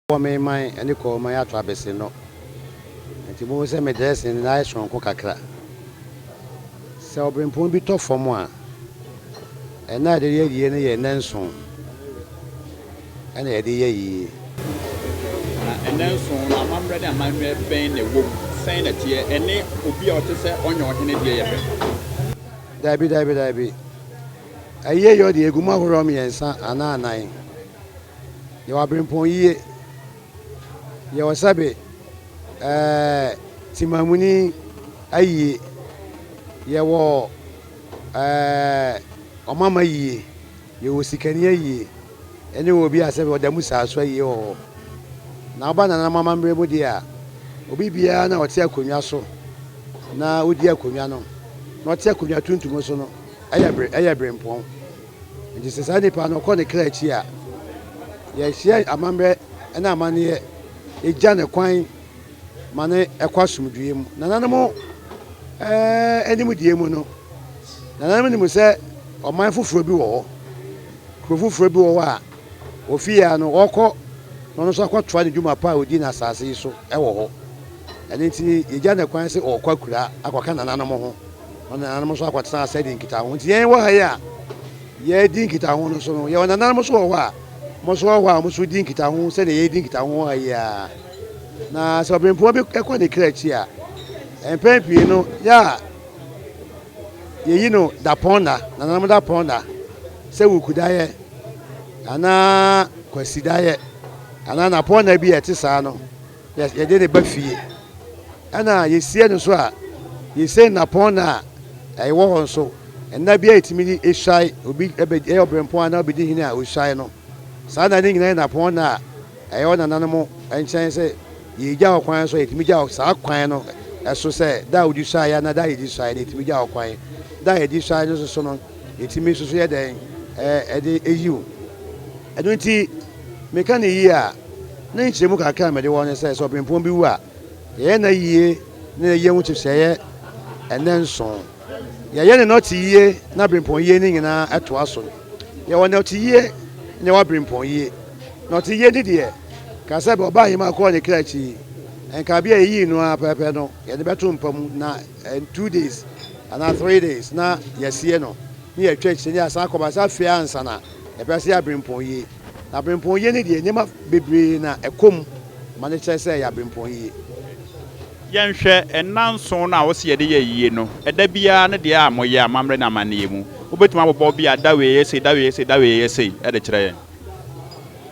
Wɔwɔ me man ne kɔɔ man ato abese no, enti muhu sɛ me dressing no ayɛ soronko kakra. Sɛ ɔbrempɔn bi tɔ fam a, ɛna a yɛde yɛ yie no yɛ nnanson ɛna yɛde yɛ yie. Na nnanson no amammerɛ ne amanyɛ bɛn na ɛwɔ mu? Sɛn na ɛteɛ? Ɛne obi a ɔte sɛ ɔnyɛ ɔhene deɛ yɛ pɛ? Daabi, daabi, daabi. Ayieyɛ ɔde egu mu ahorow mmiɛnsa anaa anan. Yɛwɔ abirempɔn yie, yɛwɔ sɛbe ɛɛ temamuni ayie, yɛwɔ ɛɛ ɔmamma ayie, yɛwɔ sikani ayie, ɛne obi a sɛbe ɔda mu saa so ayie wɔ hɔ. Na woba nananom amammerɛ mu deɛ a, obi biara no a ɔte akonnwa so na odi akonnwa no, na ɔte akonnwa tuntum so no, Ɛyɛ bere, ɛyɛ berempɔn. Enti sɛ saa nipa no ɔkɔ ne kra akyi a, yɛrehyia amammerɛ ne amanneɛ, egya no kwan ma no kɔ asomdwoeɛ mu. Nananom eh, nimdeɛ mu no, nananom nim sɛ ɔman foforɔ bi wɔ hɔ, kuro foforɔ bi wɔ hɔ a ɔfii ara no ɔrekɔ na ɔno nso akɔtoa ne dwuma pa a ɔdi no asase yi so wɔ hɔ. Ɛno nti yɛgya no kwan sɛ ɔrekɔ akura akɔka nananom ho. Wɔn nananom nso akɔtena ase adi nkitaho. Nti yɛn wɔ ha yi a yɛredi nkitaho no nso no, yɛwɔ nananom nso wɔ hɔ a wɔn nso wɔ hɔ a wɔn nso di nkitaho sɛdeɛ yɛredi nkitaho wɔ ha yi ara. Na sɛ ɔbempoma bi kɔ ne kra akyi a, mpɛn pii no yɛ a yɛyi no dapɔnna, nananom dapɔnna, sɛ wukudaeɛ anaa kwasidaeɛ anaa nnapɔnna bi a ɛte saa no. Yɛde no ba fie, ɛna yɛsie no nso a, yɛsie no nnapɔnna a ɛwɔ hɔ nso. Nna biara yɛtumi de hwae, obi bɛ, ɛyɛ ɔberempɔn anaa ɔbɛdi hene a, ɔhwae no. Saa nna no nyinaa yɛ nnapɔnna a ɛyɛ wɔ nananom nkyɛn sɛ yɛgya hɔ kwan nso a, yɛtumi gya hɔ saa kwan no so sɛ, da a wodi hwaeɛ anaa da a yɛdi hwaeɛ no, yɛtumi gya hɔ kwan. Da a yɛdi hwaeɛ no nso so no, yɛtumi nso so yɛ dɛn? Ɛde yiw. Ɛno nti. Meka no yiye a, ne nkyerɛmu kakra a mede wɔ hɔ ne sɛ, sɛ ɔbempɔn bi wu a, yɛyɛ nna yiye ne ne yɛ ho kyefsɛ yɛ ɛnnɛ nson. Yɛyɛ ne nɔte yiye ne abirempɔn yiye no nyinaa ɛtoa so. Yɛwɔ nɔte yiye na yɛwɔ abirempɔn yiye. Nɔte yiye no deɛ, ka sɛ bɛ ɔbaa Ahima kɔɔ ne kra akyi yi, nka bia yɛyii no ara pɛpɛ no, yɛde bɛto mpa mu na in two days anaa three days na yɛasie no, ne yɛatwa akyire na yɛasan akɔba sɛ afei ansa na. Yɛbɛka sɛ ɛyɛ aberempɔn yie. Na aberempɔn yie no deɛ, nneɛma bebree na ɛkɔ mu ma no kyerɛ sɛ ɛyɛ aberempɔn yie. Yɛnhwɛ nna nson no a wose yɛde yɛ ayie no, ɛda biara ne deɛ a moyɛ amammerɛ ne amanneɛ mu. Wobɛtumi abobɔ bi a da wei ɛyɛ sei, da wei ɛyɛ sei, da wei ɛyɛ sei de kyerɛ yɛn?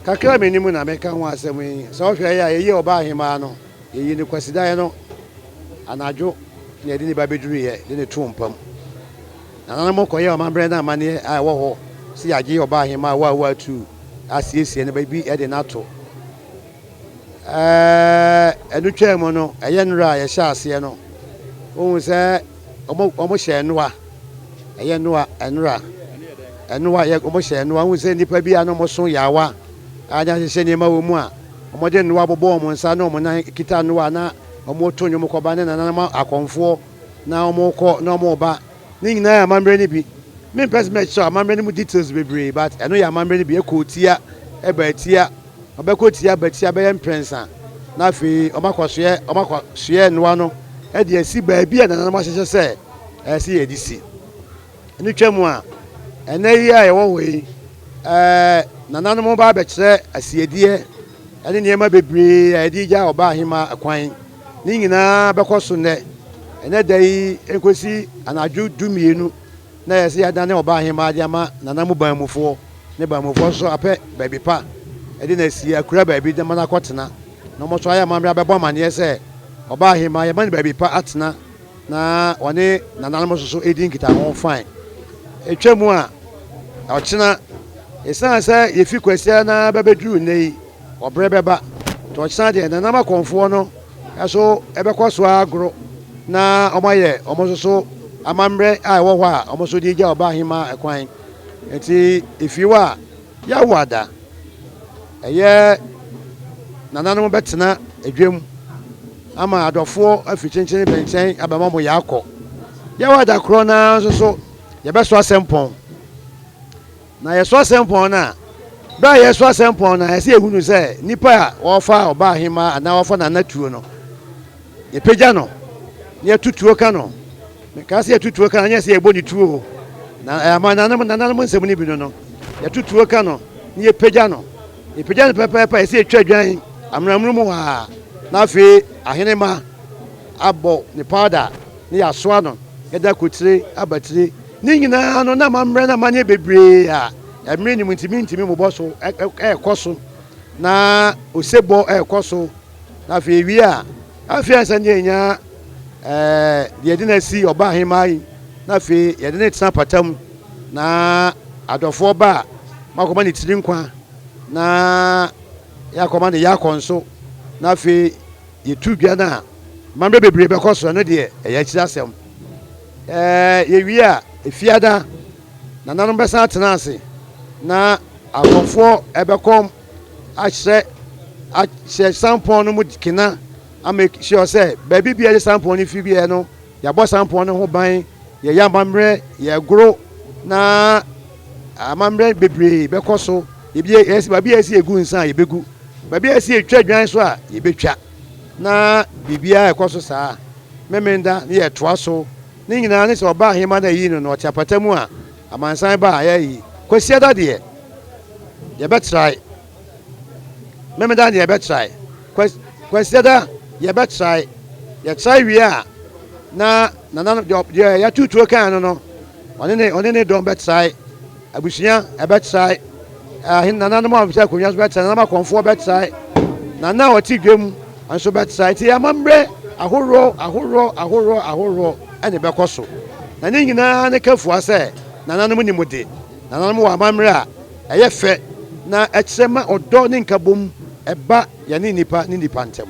Kakra a menim na mɛka ho asɛm yi, sɛ wohwɛ yɛ a, yɛyii Ɔbaahemaa no, yɛyii no Kwasidaeɛ no anadwo na yɛde no ba bɛduruiɛ de no too mpa mu. Nananom kɔyɛɛ ɔmambrɛ no amanneɛ a ɛwɔ hɔ sɛ yɛagye ɔbaahemaa Waawoo atuu asiesie no baabi de no ato. Ɛno twaa mu no, ɛyɛ nnora a yɛhyɛɛ aseɛ no, wohu sɛ wɔn wɔn hyɛɛ nnoa, ɛyɛ nnoa, nnora, nnoa, yɛ wɔn hyɛɛ nnoa. Wohu sɛ nnipa bi a na wɔn so yaawa a na ahyehyɛ nneɛma wɔ mu a wɔde nnoa bobɔ wɔn nsa ne wɔn nan kita nnoa na wɔto nnwom kɔba ne nananom akɔmfoɔ. na wɔkɔ na wɔba, ne nyinaa yɛ amammerɛ no bi, me mpɛ sɛ mɛkyerɛw amammerɛ no mu details bebree but ɛno yɛ amammerɛ no bi, ɛkɔ otia, ɛba atia, ɔbɛkɔ otia aba atia bɛyɛ mprɛnsa na afei wɔn akɔ soɛ wɔn akɔ soɛ nnoa no ɛde asi baabi a nananom ahyehyɛ sɛ ɛsɛ yɛ de si, ɛno twa mu a ɛnɛ yi a yɛwɔ hɔ yi ɛɛ nananom ba abɛkyerɛ asiedeɛ ɛne nneɛma bebree a yɛde gya ɔbaa hemaa kwan. Ne nyinaa bɛkɔ so nnɛ, ɛnnɛ da yi nkosi anadwo du mmienu na yɛsɛ yɛadane ɔbaa hemaa de ama nana mu banmufoɔ ne banmufoɔ nso apɛ baabi pa de no asie akura baabi de ma no akɔtena na wɔn nso ayɛ amammerɛ abɛbɔ amanneɛ sɛ ɔbaa hemaa yɛma no baabi pa atena na ɔne nananom nso so ɛdi nkitaho fine ɛtwa mu a ɔkyena ɛsiane sɛ yɛfi kwasia na bɛbɛduru nnɛ yi Ɔberɛ bɛba, nti ɔkyena deɛ, Nanam akɔmfoɔ no nso bɛkɔ so ara agoro na wɔayɛ wɔn nso so amammerɛ a ɛwɔ hɔ a wɔn nso de regya ɔbaa hemaa ɛkwan. Nti efie hɔ a, yɛawo ada, ɛyɛ nananom bɛtena adwam ama adɔfoɔ afiri kyenkyen bɛnkyɛn aba ma wɔn yɛ akɔ. Yɛawo ada korɔ no ara nso so, yɛbɛso asɛmpɔn. Na yɛso asɛmpɔn no a, berɛ a yɛreso asɛmpɔn no a, ɛsɛ yɛhunu sɛ nipa a wɔrefa ɔbaa hemaa anaa wɔrefa nana tuo no, yɛpagya no na yɛto tuo ka no. Mekaa sɛ yɛto tuo ka no, nyɛ sɛ yɛbɔ ne tuo o. Na eh, amananom nananom nsɛm no bi no no, yɛto tuo ka no na yɛpagya no. Yɛpagya no pɛpɛɛpɛ a, ɛsɛ yɛtwa dwan amanamunu mu hɔ a, na afei ahene ma abɔ ne powder na yɛasoa no, yɛda kotire abatire. Ne nyinaa no, na amammerɛ no amanneɛ bebree a mmere nnim nti mintumi mmobɔ so rekɔ so, na osebɔ rekɔ so, na afei ewie a, afei ansa na yɛanya deɛ yɛde no asi ɔba ahemmaa yi, na afei yɛde no retena apata mu, na adɔfoɔ ba a, makɔma ne tiri nkwa, na yɛakɔma ne yakɔ nso, na afei yɛtu dwa no a, amammerɛ bebree bɛkɔ so, ɛno deɛ ɛyɛ akyiri asɛm. Yɛwie a, Fiada, nananom bɛsan atena ase na akɔmfoɔ bɛkɔ ahyɛ ahyɛ sampɔn no mu kena amake sure sɛ baabi biara de sampɔn no fi biara no yɛabɔ sampɔn no ho ban yɛyɛ amammerɛ yɛgoro na amammerɛ bebree bɛkɔ so yɛbi yɛsi baabi a yɛsi yɛgu nsa a yɛbɛgu baabi a yɛsi yɛtwa dwan so a yɛbɛtwa Na biribiara a ɛkɔ so saa Memeneda no yɛ toa so, ne nyinaa ne sɛ ɔbaa hema no a ɛyii no no ɔte apata mu a amansan ba a ɛyɛ ayi. Kwasiada deɛ yɛbɛtrae, Memeneda deɛ yɛbɛtrae, Kwasiada yɛbɛtrae, yɛtrae wie a na nananom deɛ yɛatutuo kan no no ɔne ne dɔm bɛtrae. Abusua bɛtrae, ahene nananom a wɔte akonnwa so bɛtrae, nananom akɔmfoɔ bɛtrae, na nna a wɔte dwa mu nso bɛtrae. Nti amammerɛ ahoroɔ ahoroɔ ahoroɔ ahoroɔ na ɛbɛkɔ so, na ne nyinaa ne kafua sɛ nananom nni mu de. Nananom wɔ amammerɛ a ɛyɛ fɛ na ɛkyerɛ ma ɔdɔ ne nkabom ba yɛne nnipa ne nnipa ntam.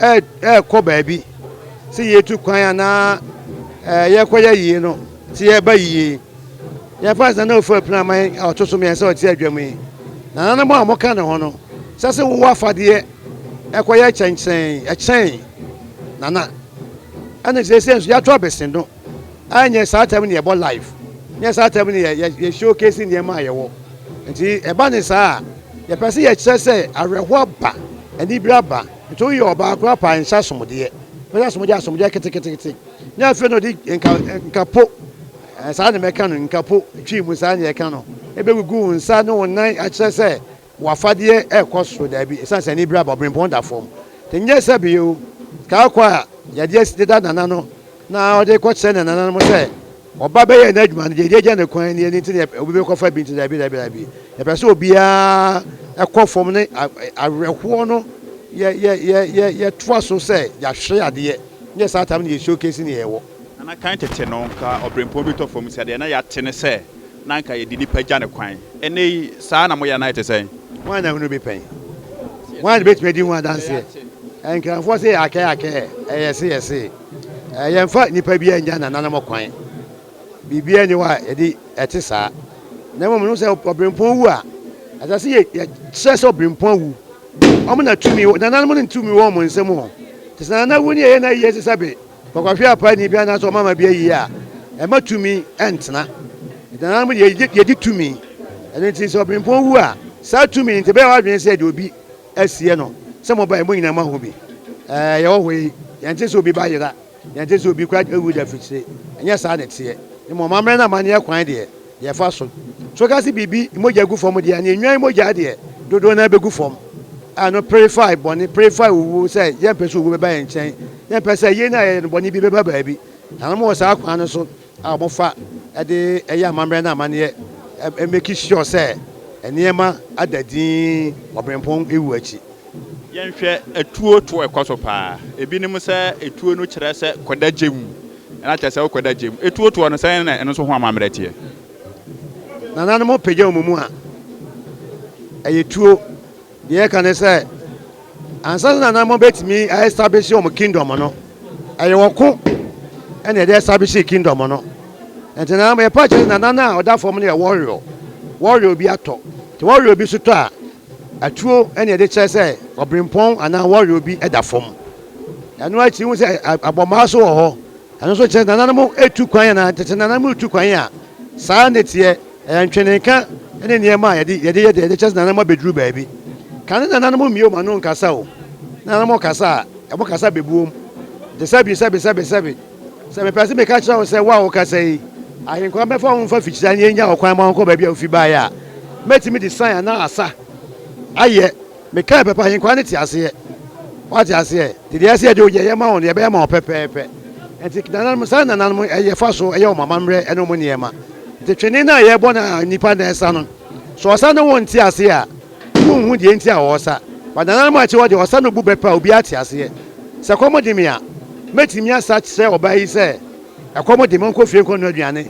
ɛrekɔ baabi sɛ yɛtu kwan anaa ɛɛ yɛrekɔyɛ yie no sɛ yɛreba yie yɛmfa sɛ na ofura pinaman a ɔto so mmiɛnsa a ɔte adwam yi nananom a wɔka ne ho no sɛ sɛ wowɔ afadeɛ ɛkɔyɛ kyɛnkyɛn ɛkyɛn nana ɛne sɛ sɛ nso yɛato abɛsi no Ah nyɛ saa time no yɛ bɔ live nyɛ saa time no yɛ yɛ show case nneɛma a yɛ wɔ nti ɛba ne saa a yɛ pɛ sɛ yɛ kyerɛ sɛ awerɛho aba anibere aba nti wo yɛ ɔbaa koraa paa nhyɛ asomdeɛ bɛ hyɛ asomdeɛ asomdeɛ kete kete kete nyɛ afei na ɔde nka nka po saa na mɛka no nka po twi mu saa na yɛ ka no ebe gugu wo nsa ne wo nan akyerɛ sɛ W'afadeɛ rekɔ soro, daabi, ɛsiane sɛ anibere aba, ɔberempɔn da fam. Nyɛ sɛ bere o, sika kɔ a Yadeɛ si deda Nana no na ɔde rekɔkyerɛ ne nananom sɛ ɔba bɛyɛɛ n'adwuma no, deɛ edi agya no kwan nie, ɛno nti na obi bɛkɔfa bi nti, daabi, daabi, daabi. Yɛpɛ sɛ obiara kɔ fam ne awerɛhoɔ no, yɛtoa so sɛ yɛahwere adeɛ, nyɛ saa time no yɛ showcase nea yɛwɔ. Na na kan tete no, anka ɔberempɔn bi tɔ fam sɛ deɛ na yɛate ne sɛ na anka yɛde nnipa gya no kwan. Ɛnnɛ yi, saa na moyɛ anaa ɛte sɛn? Hwan na hunu bi pɛn? Hwan na ɔbɛtumi adi ho adanseɛ? Nkranfoɔ se yɛakɛɛ akɛɛ, ɛyɛ se yɛ see. Yɛmfa nnipa biara nnya nananom kwan. Biribiara nni hɔ a yɛde ɛte saa. Na mmom no sɛ ɔberempɔn wu a, ɛsɛ sɛ yɛkyerɛ sɛ ɔberempɔn awu. Wɔn na tumi wɔ, nananom no tumi wɔ wɔn nsam o. Te sɛ nana wu ne yɛyɛ no ayie sesɛbe. Wɔkɔhwɛ apaani bi anaasɛ ɔmamma bi ayi a, ɛmma tumi ntena. Ɛda nananom de yɛgye yɛgye tumi. Ɛno nti sɛ ɔbempɔn wu a, saa tumi no nti ɛbɛyɛ w'adwene sɛ yɛde obi asie no. Sɛ mobae, mo nyinaa moahu bi. Ɛɛ, yɛwɔ hɔ yi, yɛnte sɛ obi ba yera, yɛnte sɛ obi kora awu da afikyire. Ɛnyɛ saa na ɛteɛ. Mmom, amammerɛ ne amanneɛ kwan deɛ, Yɛfa so. So woka se biribi mogya gu fam deɛ a, ne nnwan mogya deɛ dodoɔ no ara bɛgu fam. A no purify bɔne, purify owuo, sɛ yɛmpɛ sɛ owuo bɛba yɛn nkyɛn. Yɛmpɛ sɛ yei no a yɛyɛ no bɔne bi bɛba baabi. Na wɔn wɔ saa kwan no so a wɔfa de yɛ amammerɛ ne amanneɛ, ɛ, make sure sɛ nneɛma ada dinn Ɔberempɔn wu akyi. Yɛnhwɛ atuo to ɛkɔ so paa. Ebinom sɛ atuo no kyerɛ sɛ kɔda gya mu. Ɛna kyerɛ sɛ wokɔda gya mu. Etuotuo no, sɛn na ɛno nso ho amammerɛ teɛ? Nananom pagya wɔn mu a, ɛyɛ tuo. Deɛ yɛka ne sɛ, ansa na nananom bɛtumi a establish wɔn kingdom no, ɛyɛ ɔko ɛna yɛde establish kingdom no. Nti nananom yɛpa kyerɛ nananom a ɔda fam no yɛ warrior. Warrior bi atɔ. Nti warrior bi nso tɔ a, Atuo na yɛde kyerɛ sɛ ɔberempɔn anaa wɔwe obi da fam. Ɛno akyi wohu sɛ abɔmmaa nso wɔ hɔ. Ɛno nso kyerɛ sɛ nananom retu kwan anaa tete nananom retu kwan a saa na ɛteɛ. Ɛyɛ ntwenenka ne nneɛma a yɛde yɛde yɛ dɛ de kyerɛ sɛ nananom abɛduru baabi. Ka ne nananom mmue wɔn ano nkasa o. Ne nananom kasa a, wɔkasa bebuom. Te sɛ bi sɛbi sɛbi sɛbi. Sɛ mepɛ sɛ meka kyerɛ wo sɛ wo a wokasa yi, Ahenkwaa bɛfa wo mfa fikyiri anigye nya ɔkwan ma wonkɔ baabi a wufi bae a, mɛtumi de sign anaa asa ayɛ. Mekae pɛpɛ, Ahenkwaa no te aseɛ. Woate aseɛ? Nti deɛ ɛyɛ sɛ yɛde ogya yɛ ma wo no, yɛbɛyɛ ama wo pɛpɛɛpɛ. Nti nananom, saa na nananom yɛ fa so yɛ wɔn amammerɛ ne wɔn nneɛma. Nti twene no a yɛbɔ no a nnipa na ɛsa no, sɛ ɔsa ne wo nte aseɛ a, Wonhu deɛ nti a wɔsa. But nananom a ɛte hɔ deɛ, wɔsa no bu bɛ pɛ a obiara te aseɛ. Sɛ ɛkɔm de me a, mɛtumi asa kyerɛ ɔbaa yi sɛ, ɛkɔm de me, ɔnkɔ fie nkɔnoa aduane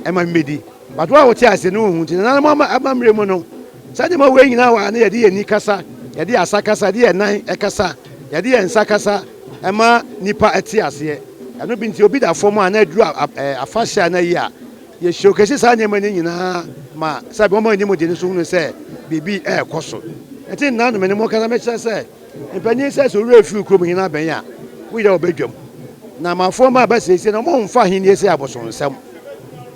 mma me mmɛdi. But wo a wote aseɛ no, wonhu. Nti nananom amammerɛ mu no, saa nneɛma wei nyinaa wɔ a na yɛde yɛn ani kasa, yɛde yɛn asa kasa, yɛde yɛn nan kasa, yɛde yɛn nsa kasa ma nnipa te aseɛ. Ɛno bi nti, obi da fam a na aduru afahyɛ a na ayi a, Yɛ showcase saa nneɛma no nyinaa ma sɛbe wɔn a wɔnim de no nso hunu sɛ biribi rekɔ so. Ɛte nna no me ne mo kasa mekyerɛ sɛ mpanyin sɛ sɛ owura yi firi kurom hene abɛn a wo yera wɔ badwam. Na amafoɔ mma aba siesie na wɔn mfa ahennie sɛ abosonsɛm.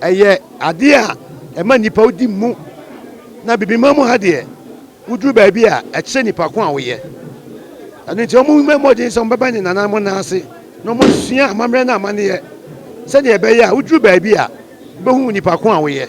Ɛyɛ adeɛ a ɛma nnipa wodi mu na bibima mu ha deɛ Woduru baabi a, ɛkyerɛ nipa ko a woyɛ. Ɛno nti, wɔmmɔ mmɔden sɛ wɔbɛba ne nananom nan ase na wɔasua amammerɛ ne amanneɛ sɛnea ɛbɛyɛ a woduru baabi a, wobehu nipa ko a woyɛ.